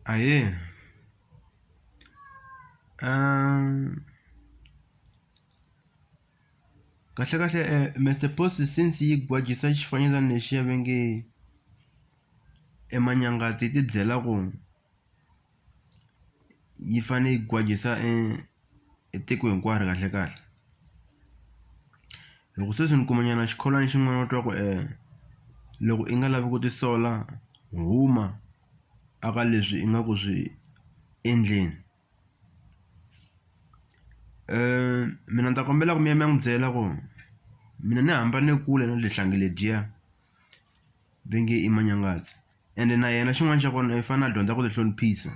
Ahee kahlekahle Mister Post since yi gwajisa xifanyetana lexiya va nge e Manyangazi yi ti byela ku. yi fanele yi gwajisa e tiko hinkwaro kahlekahle hi ku sweswi ni kuma nyana xikholwani xin'wana va twa ku loko i nga lavi ku tisola huma a ka leswi i nga ku swi endleni mina ni ta kombela ku mi ya mi ya n'wi byela ku mina ni hambane kule na le hlangi ledyiya. va nge i manyangazi ende na yena xin'wana xa kona i fane a dyondza ku ti hloniphisa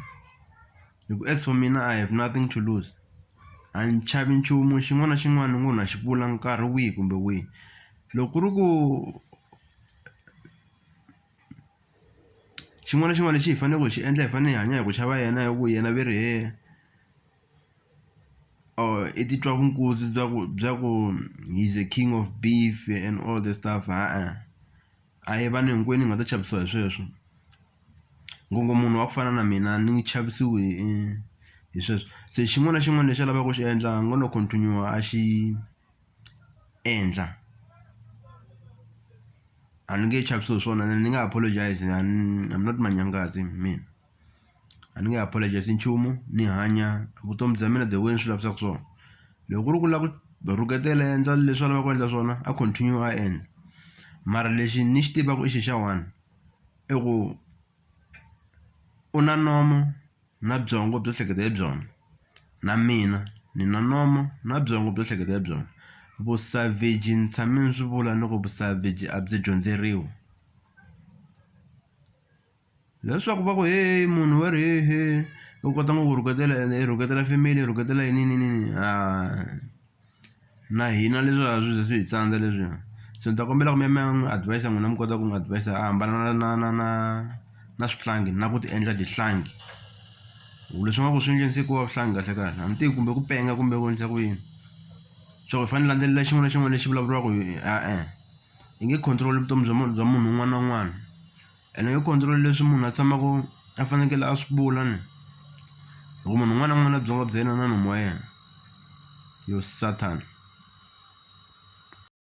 hi ku as for mina I have nothing to lose a ni chavi nchumu xin'wana na xin'wana ni ngo na xi vula nkarhi wihi kumbe wihi loko ku ri ku xin'wana na xin'wana lexi hi faneleke hi xi endla hi fanele hi hanya hi ku chava yena hi ku yena ve ri . or i titwa vunkuzi bya ku bya ku he's a king of beef and all the stuff ha-a a hi vanhu hinkwenu hi nga ta chavisiwa hi sweswo ngo ngo munhu wa ku fana na mina ni nge chavisiwi hi hi sweswo se xin'wana na xin'wana lexi a lavaka ku xi endla a ngo lo continue-a a xi endla a ni nge chavisiwi hi swona ene ni nge apologize a ni I'm not manyangazi mina. a ni nge apologize nchumu ni hanya vutomi bya mina the way ni swi lavisaka swona loko ku ri ku lava ku va rhuketela a endla leswi a lavaka ku endla swona a continue a endla mara lexi ni xi tivaka i xi xa one i ku u na nomo na byongo byo hleketa hi byona na mina ni na nomo na byongo byo hleketa hi byona vu-savage ni tshame ni swi vula ni ku vu-savage a byi dyondzeriwi. Leswaku va ku heyi munhu wa ri hehe u kota ngopfu ku rhuketela ende i rhuketela family i rhuketela yini ni ni ni ni na hina leswiya a swi ze swi hi tsandza leswiya se ni ta kombela ku mi ya mi ya n'wi advise n'wina mi kota ku n'wi advise a hambana na na na na na swihlangi na ku ti endla tihlangi hi ku leswi nga ku swi endleni se ku va vuhlangi kahle kahle a ni tivi kumbe ku penga kumbe ku endlisa ku yini swa ku hi fanele hi landzelela xin'wana na xin'wana lexi vulavuriwaka hi e-e hi nge control vutomi bya munhu bya munhu un'wana na un'wana Ene yo control leswi munhu a tshamaka a fanekele a swi vula ni hi ku munhu un'wana na un'wana na byongo bya yena na nomu wa yena yo sathana.